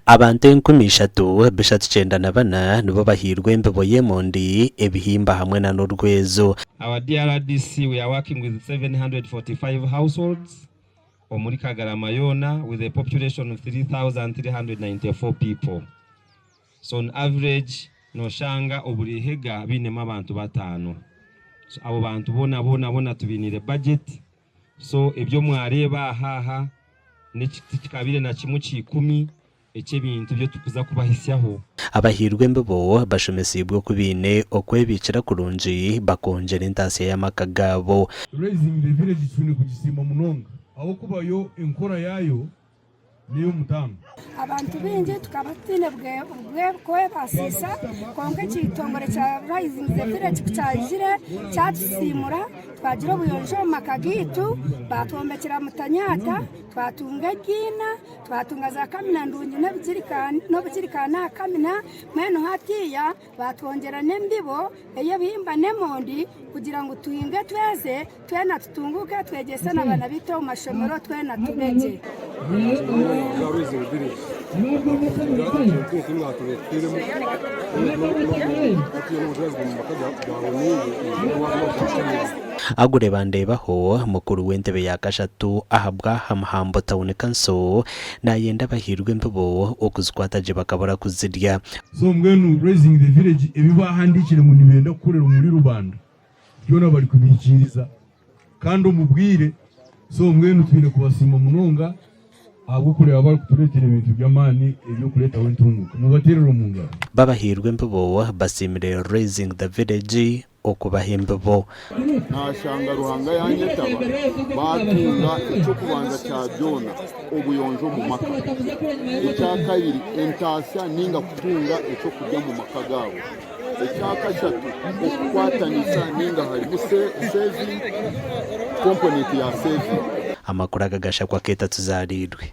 Abantu enkumi ishatu, bishatu kyenda na bana nibo bahairwe embibo y'emondi, ebihimba hamwe na n'orwezo. Our DRDC we are working with 745 households omuri Kagarama yoona with a population of 3,394 people so on average noshanga oburi hega bainemu abantu bataano so abo bantu boona boona boona tubainiire budget. So ebyo mwareeba ahaha n'eki tikikabaire na kimwe kya ikumi eky'ebintu ebi turikuza kubahisyaho. Abahairwe embibo bashomeseibwe oku baine okwebiikira kurungi bakongyera entaasya y'amaka gaabo. Raising the Village Kicwine kugisiima munonga ahabw'okuba yo enkora yaayo n'ey'omutaano. Abantu baingi tukaba tutaine bw'okwebaasiisa, kwonka ekitongore kya Rising the Village ku kyaizire kyatusiimura, twagira obuyonjo omu maka gaitu, baatwombekyera mutanyaata, twatunga ebiina, twatunga zaakamina ndungi n'obugirikaani aha kamina, mbwenu hatiiya, Baatwongyera n'embibo ey'ebihimba n'emondi kugira ngu tuhinge tweze, twena tutunguuke, twegyese n'abaana baitu omu mashomero, twena tube gye. Agure Bandeebaho, mukuru w'entebe ya kashatu ahabw'aha Muhambo Town Council, naayenda abahairwe embibo okuzikwata gye bakabura kuzirya. So mbwenu Raising the Village ebi baahandiikire ngu nibenda kukorera omuri rubanda byona barikubihikiiriza kandi omu bwire. So mbwenu twine kubasiima munonga ahabw'okureeba barikutureetera ebintu by'amaani eby'okureetaho entunguuka. Mubateerere omu ngaro. Babahairwe empibo basiimire Raising the Village okubaha embibo. Naashanga Ruhanga yaanyetaba baatunga eky'okubanza kya byona, obuyonjo omu maka. Ekya kabiri, entaasya nainga kutunga eky'okurya omu maka gaabo. Ekya kashatu, okukwatanisa nainga harimu saving, component ya saving. Amakuru aga gashakwa Keita tuzaariirwe.